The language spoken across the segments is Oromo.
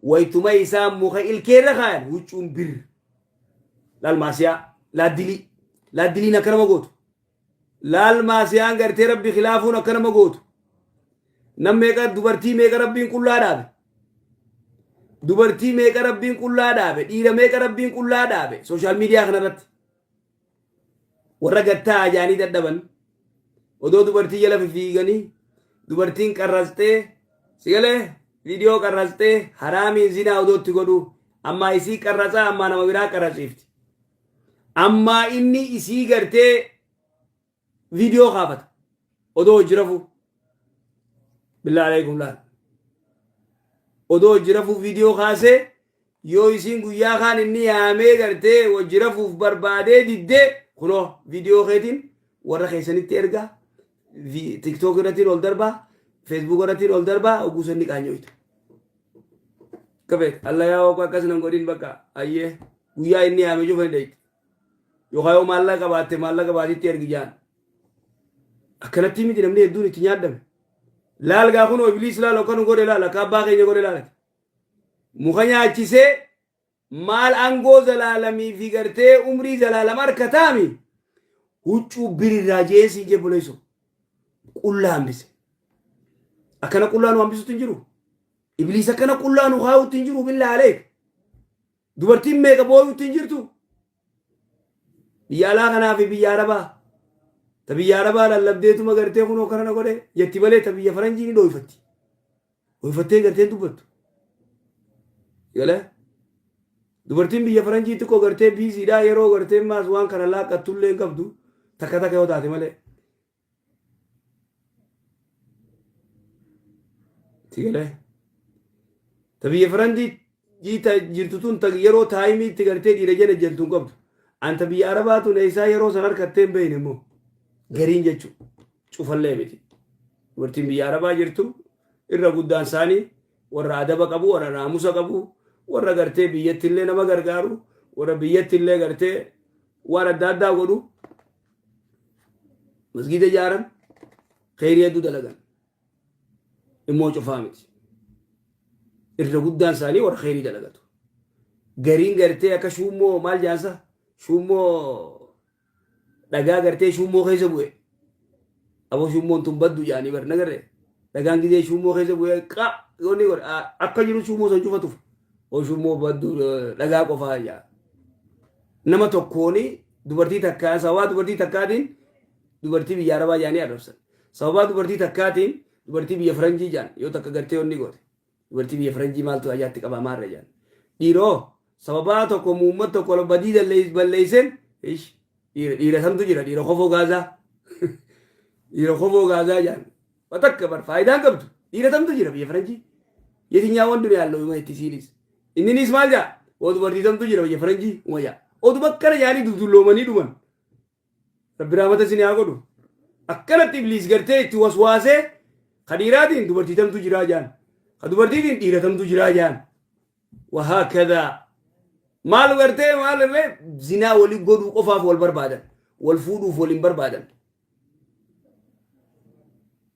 Waytuma isaan muka ilkeerra kaayan huccuun bir. Laal maasiyaa, laaddilii. Laaddiliin akka nama gootu. Laal maasiyaan gartee rabbi khilaafuun akka nama gootu. Nam meeqa dubartii meeqa rabbiin qullaa dhaabe. Dubartii meeqa rabbiin qullaa dhaabe. Dhiira meeqa rabbiin qullaa dhaabe. Sooshaal miidiyaa kanarratti. Warra gad taa'aa jaanii dadhaban. Odoo dubartii jala fifiiganii dubartiin qarrastee sigalee viidiyoo qarrastee haraamiin zinaa odoo itti godhu ammaa isii qarrasaa ammaa nama biraa qarrasiifti. Ammaa inni isii gartee viidiyoo kaafata odoo hojii rafuu billaa alaykum laal odoo hojii rafuu viidiyoo kaasee yoo isiin guyyaa kaan inni yaamee gartee hojii rafuuf barbaadee diddee kunoo viidiyoo keetiin warra keessanitti ergaa vi- tiktook irrattiin ol darbaa feesbuuk irrattiin ol darbaa oguu sanni qaanyooyta kafeet allayaa waqo akkas nan godhin bakka ayyee guyyaa inni yaame cufa hin dheeyte Yookaan yoo maallaqa qabaatte maallaqa baatiitti ergi jaan. Akkanatti miti namni hedduun itti nyaadhame. Laal gaa kunoo ibliis laal akka nu godhe laal akka abbaa keenya godhe laalati. Muka nyaachisee maal aangoo zalaalamii fi gartee umrii zalaalama harka taami huccuu birirraa jeesii jee buleessu qullaa hambise. Akkana qullaa nu hambisutti hin jiru. Ibliis akkana qullaa nu kaa'utti hin jiru billaa aleek. Dubartiin meeqa booyuutti hin jirtu? Biyya alaa kanaa fi biyya Arabaa. Ta biyya Arabaa lallabdeetuma gartee kunoo kana na godhe jetti malee ta biyya faranjii ni dhooyfatti. Dhooyfattee gartee hin dubbattu. Galee? Dubartiin biyya faranjii xiqqoo gartee biiziidhaa yeroo gartee maas waan kana laaqqattullee hin qabdu takka takka yoo taate malee. Itti galee. Ta biyya Faranjii jiita jirtu tun ta yeroo taayimii itti galtee dhiira jala ejjentu hin qabdu. Anta biyya Arabaa tun eessaa yeroo san harkattee hin beekne immoo gariin jechuu cufallee miti. Dubartiin biyya Arabaa jirtu irra guddaan isaanii warra adaba qabu, warra naamusa qabu, warra gartee biyyattillee nama gargaaru, warra biyyattillee gartee waan adda addaa godhu Masgiida ijaaran kheyrii hedduu dalagan. Immoo cufaa miti. Irra guddaan isaanii warra kheyrii dalagatu. Gariin gartee akka shuummoo maal jaansa shuummoo dhagaa gartee shuummoo keessa bu'e. Abo shuummoon tun baddu jaanii bar nagarre dhagaan gizee shuummoo keessa bu'ee qa yoonni godhe a- akka jiru shuummoo san cufa tufa o shuummoo baddu eh, dhagaa qofaa jaa nama tokkooni dubartii takkaa sababaa dubartii takkaatiin dubartii biyya arabaa jaanii arrabsan sababaa dubartii takkaatiin dubartii biyya faranjii jaan yoo takka gartee yoonni goote Dubartii biyya faranjii maaltu ayyaatti qabaa maarra jaan. Dhiroo sababaa tokko muummat tokko ol badii dallees balleesseen ish dhiira dhiira samtu jira dhiira kofoo gaazaa. Dhiira kofoo gaazaa jaan. Watakka bar faayidaan qabdu dhiira samtu jira biyya faranjii. Yetinyaa wan duniyaa loo ima itti siinis. Inninis maal jaa? Waa dubartii samtu jira biyya faranjii uma jaa. Oduma akkana jaanii dudulloomanii dhuman. Rabbi rahmata isin haa godhu. Akkanatti ibliis gartee itti waswaasee ka dhiiraatiin dubartii tamtu jiraa jaan. Ka dubartiitiin dhiira tamtu jiraa jaan. Wahaa kadaa. Maal gartee maal irree zinaa wali godhuu qofaaf wal barbaadan. Wal fuudhuuf wal hin barbaadan.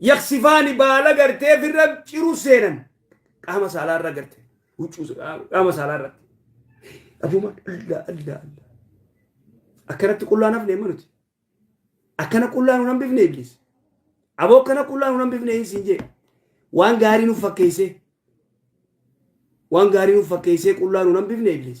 Yaqsifaani baala gartee firra ciru seenan qaama saalaa irra garte huccuu qaama saalaa irratti. Abuma alla alla alla. Akkanatti qullaan hafne amma nuti. Akkana qullaa nu hambifne iblis. Aboo akkana qullaa nu hambifne hin siin jee. Waan gaarii nuuf fakkeessee. Waan gaarii nuuf fakkeessee qullaa nu hambifne iblis.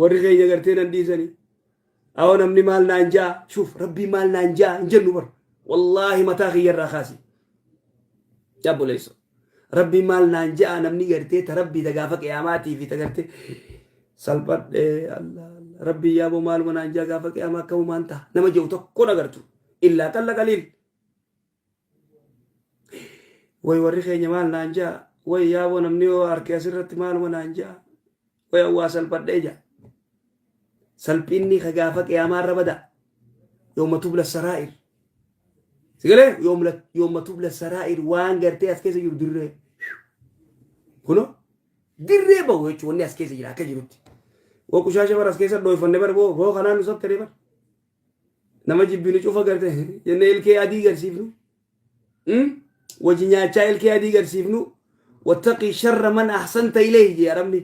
Warri keenya gartee nan dhiisani. Awoo namni maal naan ja'a shuf rabbii maal naan ja'a hin jennu bar. Wallaahi mataa kiyya irraa kaasi. Yaa buleesso. Rabbii maal naan ja'a namni gartee ta rabbii ta gaafa qiyaamaatii fi ta gartee salphadhe Allah Allah. Rabbii yaaboo maaluma naan ja'a gaafa qiyaamaa akka humaan ta'a. Nama je'u tokko nagartu. Illaa qalla qaliil. Way warri keenya maal naan jaa. Way yaaboo namni yoo harki asirratti maaluma naan jaa. Way awwaa salphadhee jaa. Salphinni ka gaafa qiyaamaa irra bada. Yooma tubla saraa'ir. Sigalee yooma tubla saraa'ir waan gartee as keessa jiru dirree. Kuno dirree bahu jechuun wanni as keessa jira akka jirutti. Waa qushaasha bara as keessa dhoofanne bara boo kanaan nu sattare bara. nama jibbinu cufa garte jenne ilkee adii garsiifnu Hmm? wajji nyaachaa ilkee adii garsiifnu wattaqii sharra man ahsanta ilayhi jee arabni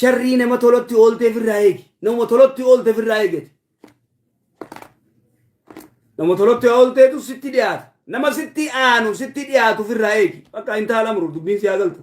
sharrii nama tolotti oolteef irraa eegi nama tolotti oolteef irraa eegati nama tolotti oolteetu sitti dhiyaata nama sitti aanu sitti dhiyaatuuf irraa eegi bakka hin taala muru dubbiin si haa galtu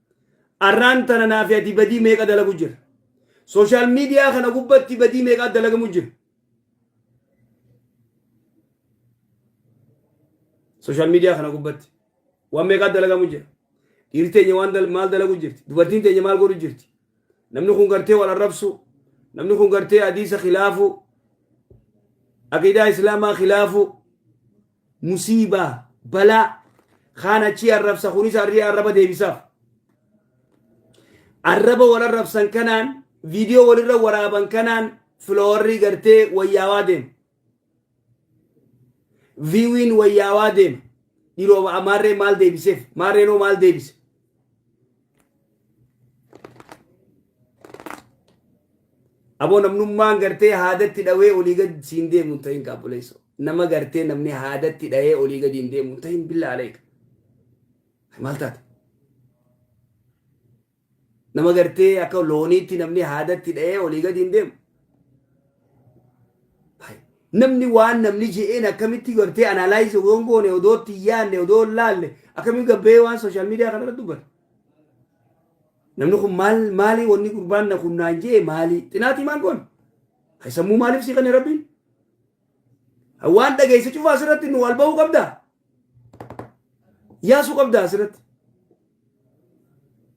Arraan tana naa fi ati badii meeqa dalagu jirra. Social media kana gubbatti badii meeqaa dalagamu jira. Social media kana gubbatti waan meeqaa dalagamu jira. Dhiirri teenya waan dal- maal dalagu jirti. Dubartiin teenya maal godhu jirti. Namni kun gartee wal arrabsu. Namni kun gartee hadiisa khilaafu. Aqiidaa Islaamaa khilaafu. Musiibaa, balaa, kaan achii arrabsa, kunis arrii arraba deebisaaf. Arraba wal arrabsan kanaan, viidiyoo walirra waraaban kanaan filoowarrii gartee wayyaawaa deema. Viiwiin wayyaawaa deema. Dhiroo maarree maal deebiseef? Maarreenoo maal deebise? Aboo namnummaan gartee haadatti dhawee olii gad siin deemu hin ta'in kaabboleessoo. Nama gartee namni haadatti dhahee olii gadi hin deemu hin ta'in billaa aleeka. Maal taate? Nama gartee akka looniitti namni haadatti dhahee olii gadi hin deemu. Namni waan namni je'een akkamitti gartee analyze odoo hin goone odoo itti hin yaadne odoo hin laalle akkamitti gabbee waan social media kana irratti dubbata. Namni kun maal maalii wanni gurbaan na kun naan je'e maalii xinaatii maan goone. Hay sammuu maaliif si kenne rabbiin? Waan dhageesse cufa asirratti nu wal ba'uu qabdaa? Yaasuu qabdaa asirratti?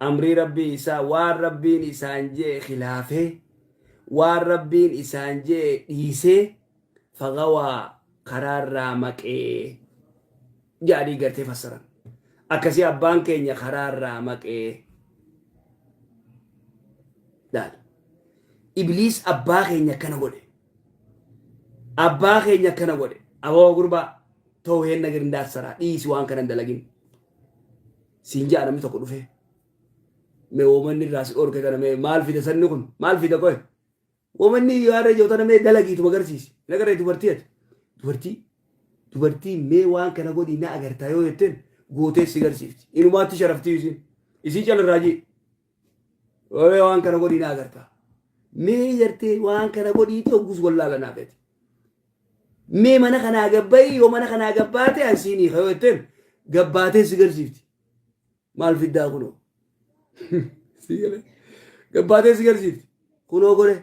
Amrii Rabbii isaa waan Rabbiin isaan je'e khilaafee, waan Rabbiin isaan je'e dhiisee, faghawaa, karaarraa maqe ja'anii gartee fassaran. Akkasii abbaan keenya karaarraa maqe. Laal. Ibliis abbaa keenya akkana godhe. Abbaa keenya akkana godhe. Aboo gurbaa too heenna girndaassaraa dhiisi waan kana hin dalagin. siin ja'a namni tokko dhufee mee woomanni irraa si dhorke kana mee maal fida sanni kun maal fida qoye woomanni yoo har'a ijoo tana mee dalagiitu magarsiisi nagarree dubartii ati dubartii dubartii mee waan kana godhii na agartaa yoo jetteen gootee si garsiifti inumaatti sharaftii isin isii calarraa jee Wawee waan kana godhii naa gartaa. Mee jartee waan kana godhiiti oggus wallaala naa gati. Mee mana kanaa gabbayii yoo mana kanaa gabbaate an siinii kayoo jetteen gabbaatee si garsiifti. Maal fiddaa kunoo. Sii galee. Gabbaatee si garsiifti. Kunoo godhee.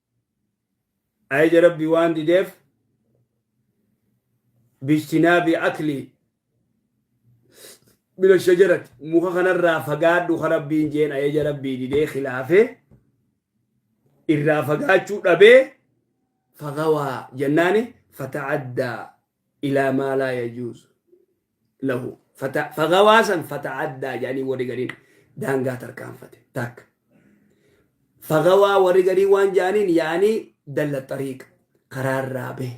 Ajaja Rabbii waan dideef bijtinaabi akli mina shajarati muka kanarraa fagaadhu ka Rabbiin jeen ajaja Rabbii didee khilaafee irraa fagaachuu dhabee fagawaa jennaani fata'addaa ilaa maa laa yajuuzu lahu fata- fagawaa san fata'addaa jedhanii warri gariin daangaa tarkaanfate takka fagawaa warri garii waan jedhaniin yaanii dalla xariiq karaarraa bahe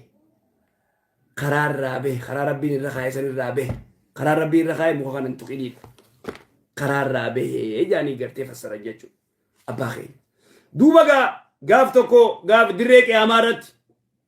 karaarraa bahe karaa rabbiin irra kaa'e san irraa bahe karaa rabbii irra kaa'e muka kanan tuqinii karaarraa bahe jedhanii gartee fassaran jechuudha abbaa keenya duuba gaa gaaf tokko gaaf dirree qiyaamaa irratti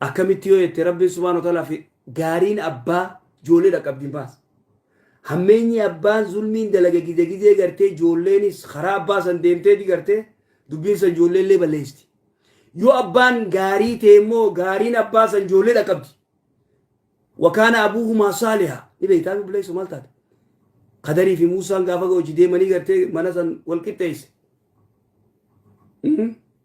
akkamitti yoo jette rabbiin subhaanahu wa ta'aalaa fi gaariin abbaa ijoollee dhaqqabdi hin baasa. Hammeenyi abbaan zulmiin dalaga gizee gizee gartee ijoolleenis karaa abbaa san deemteeti gartee dubbiin san ijoollee illee balleessti. Yoo abbaan gaarii ta'e immoo gaariin abbaa san ijoollee dhaqqabdi. Wakaana abuuhumaa saalihaa ni beektaa obboleessa maal taate? Kadarii fi Muusaan gaafa hojii deemanii gartee mana san wal qixxeesse.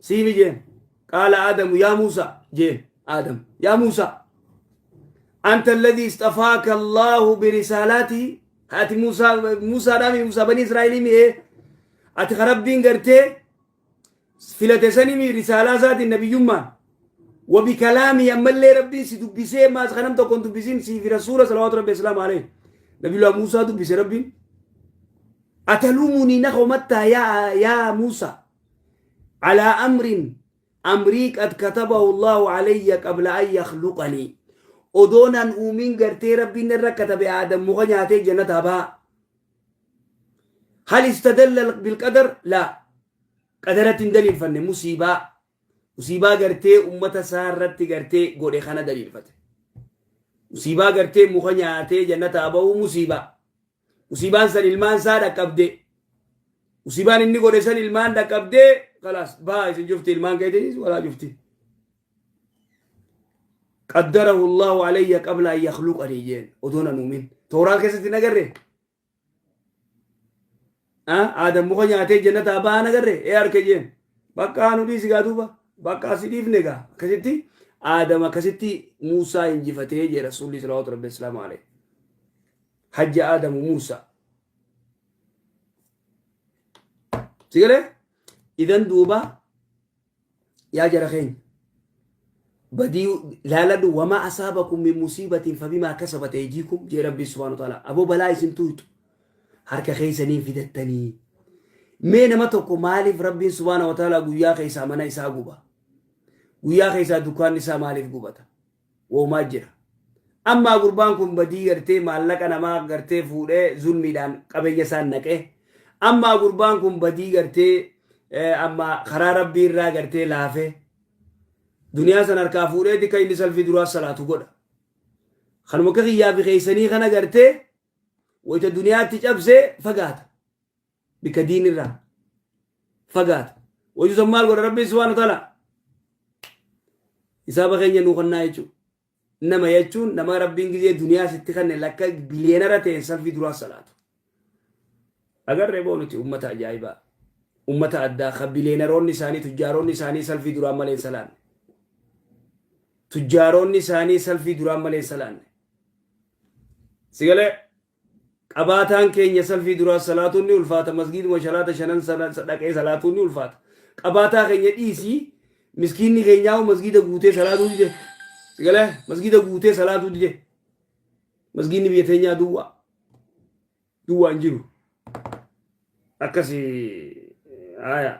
Siini jeen. Qaala Aadamu yaa Muusaa jeen. Aadam yaa Muusaa. Anta alladhi istafaaka Allaahu birisaalaatii. Ati Muusaa Muusaadhaami Muusaa banii Israa'elii mi'ee. Ati ka Rabbiin gartee filate sanimi risaalaa isaatiin nabiyyummaan. Wabi kalaamii ammallee Rabbiin si dubbisee maas kanam tokkoon dubbisiin siifi rasuula salawaatu rabbi islaam alee. Nabiyullah Muusaa dubbise Rabbiin. Atalumunii na homattaa yaa yaa Muusaa. Alaa amrin amrii qad katabahu Allaahu alayya qabla an yakhluqanii. Odoo nan uumin gartee Rabbiin narra katabe Aadam muka nyaatee janataa baha. Hal istadalla bilqadar? Laa. Qadaratti hin daliilfanne musiibaa. Musiibaa gartee ummata isaa irratti gartee godhe kana daliilfate. Musiibaa gartee muka nyaatee janataa bahuu musiibaa. Musiibaan san ilmaan isaa dhaqqabdee. Musiibaan inni godhe san ilmaan dhaqqabdee kalaas baha isin cufti ilmaan keetiinis walaa cufti. Qaddarahu Allahu alayya qabla an yakhluqanii jeen odoo nan uumin. Tooraa keessatti hin agarre. Aadam muka nyaatee jannataa bahan agarre ee harke jeen. Bakka anu dhiisi gaa duuba bakka asi dhiifne gaa akkasitti Aadam akkasitti Muusaa injifatee jee Rasuulli Salawaatu Rabbi Islaamu alayhi. Hajji Aadamu Muusaa. Si galee? Idan duuba yaa jara keenya. Badii laaladhu wamaa asaabakum min musiibatiin fabimaa kasabate ejiikum jee rabbii subhaanahu wa ta'aala. Aboo balaa isin tuutu harka keessaniin fidattanii. Mee nama tokko maaliif rabbiin subhaanahu wa ta'aala guyyaa keessaa mana isaa guba? Guyyaa keessaa dukkaanni isaa maaliif gubata? Woomaa jira. Ammaa gurbaan kun badii gartee maallaqa namaa gartee fuudhee zulmiidhaan qabeenya isaan naqee ammaa gurbaan kun badii gartee amma karaa rabbii irraa gartee laafee duniyaa san harkaa fuudhee dika inni salfii duraa salaatu godha. Kanuma akka kiyyaa fi keessanii kana gartee wayita duniyaatti cabsee fagaata. bika diin irraa fagaata waytu san maal godha rabbiin subhaana taala hisaaba keenya nuu kannaa jechuu nama jechuun nama rabbiin gizee duniyaa sitti kanne lakka biliyeenara ta'een salfii duraa salaatu agarree boo nuti ummata ajaa'ibaa ummata addaa ka biliyeenaroonni isaanii tujjaaroonni isaanii salfii duraan malee hin salaanne tujjaaroonni isaanii salfii duraan malee hin salaanne sigalee Qabaataan keenya salfii duraa salaatuun ni ulfaata masgiiduma shalaata shanan sana dhaqee salaatuun ni ulfaata. Qabaataa keenya dhiisii miskiinni keenyaa'u masgiida guutee salaatuu dide. Sigalee masgiida guutee salaatuu dide. Masgiinni biyya teenyaa duwwaa. Duwwaa hin jiru. Akkasi haaya.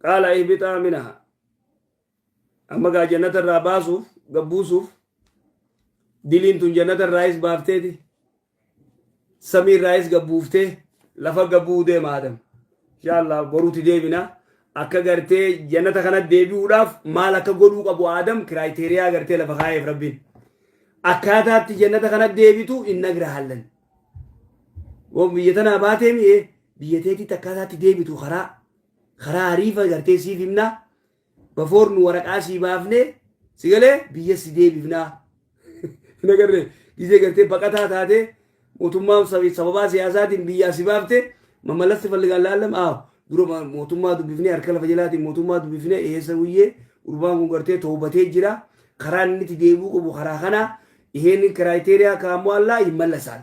Qaala ihbixaa minaha. Amma gaa jannata irraa baasuuf gabbuusuuf diliin tun jannata irraayis baafteeti samii irraayis gabbuuftee lafa gabbuu deema adam inshaallaa boruutti deebina akka gartee jannata kana deebi'uudhaaf maal akka godhuu qabu adam kiraayiteriyaa gartee lafa kaa'eef rabbiin akkaataatti jannata kana deebitu hin nagra hallan waan biyya tanaa baatee mi'ee biyya teetitti akkaataatti deebitu karaa karaa hariifa gartee siif himnaa Bafoor nu waraqaa sii baafnee si galee biyya si deebifnaa. Hin agarree gizee gartee baqataa taatee mootummaan sab- sababaa siyaasaatiin biyyaa si baafte mamalatti falligaan laallam aaw dura ma- mootummaa dubbifnee harka lafa jalaatiin mootummaa dubbifnee eessa guyyee gurbaan kun gartee toobatee jira karaa inni itti deebi'uu qabu karaa kanaa iheenin kiraayiteriyaa kaammoo allaa hin mallasaan.